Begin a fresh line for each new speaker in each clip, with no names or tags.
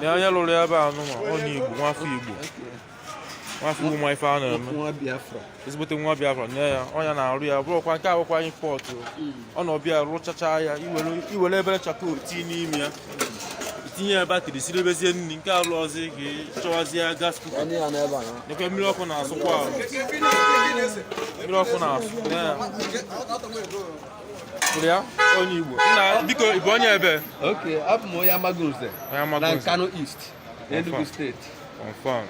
na onye lụrụ ebe a nụnwa onye Igbo nwafọ Igbo nwafọ Igbo nwe ife a na-eme ezigbote nwa Biafra nye ya onye na-arụ ya bụrụkwa nke a abụkwa import ọ na ọbịa rụchachaa ya i were obere charcoal tii n'ime ya tinye ya batrị siribezie nri nke alụ ọzọ ka ị chọwazie gas cooker nekwa mmiri ọkụ na-asụkwa ahụ mmiri ọkụ na-asụ ya onye Igbo nna biko ị bụ onye ebee okay abụ m
onye Amagunze na Nkanu East Enugu steeti confirm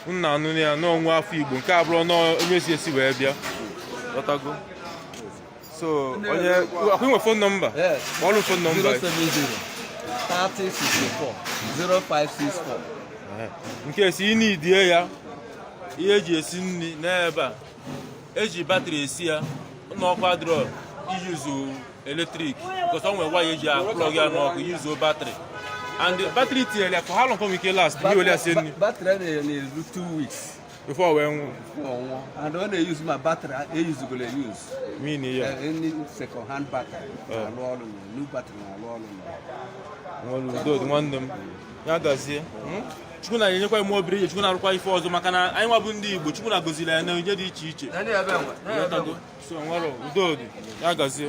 nna anụ ya na ọ nwa afọ Igbo nke a abụrọ onye si ezi wee bịa ị ghọtago so onye akwụ nwe phone number kpọọlụ
phone number
070 3064 0564 nke si ị na-idie ya ihe e ji esi nri n'ebe a e ji batrị esi ya na ọkụ adịrọ i yuzuo electric because o nwere waya e ji a-plug ya n'ọkụ yuzuo batrị and batrị tinyere ya for how long ka o nwe ike last i were ya sie nri batrị a na-enye
na-eru two weeks before wee
nwụ before ọ nwụọ and
ọ na-eyuzu ma batrị e yuzugoro eyuzu meaning
ndị
second hand batrị na-alụ ọrụ na new batrị na-alụ ọrụ na nwere udo
dị nwanne m ya gazie Chukwu na-enyekwa ime obiri ihe Chukwu na-arụkwa ife ọzọ maka na anyị nwa bụ ndị Igbo Chukwu na gọziri ya n'onyinye dị iche iche so nwere udo dị ya gazie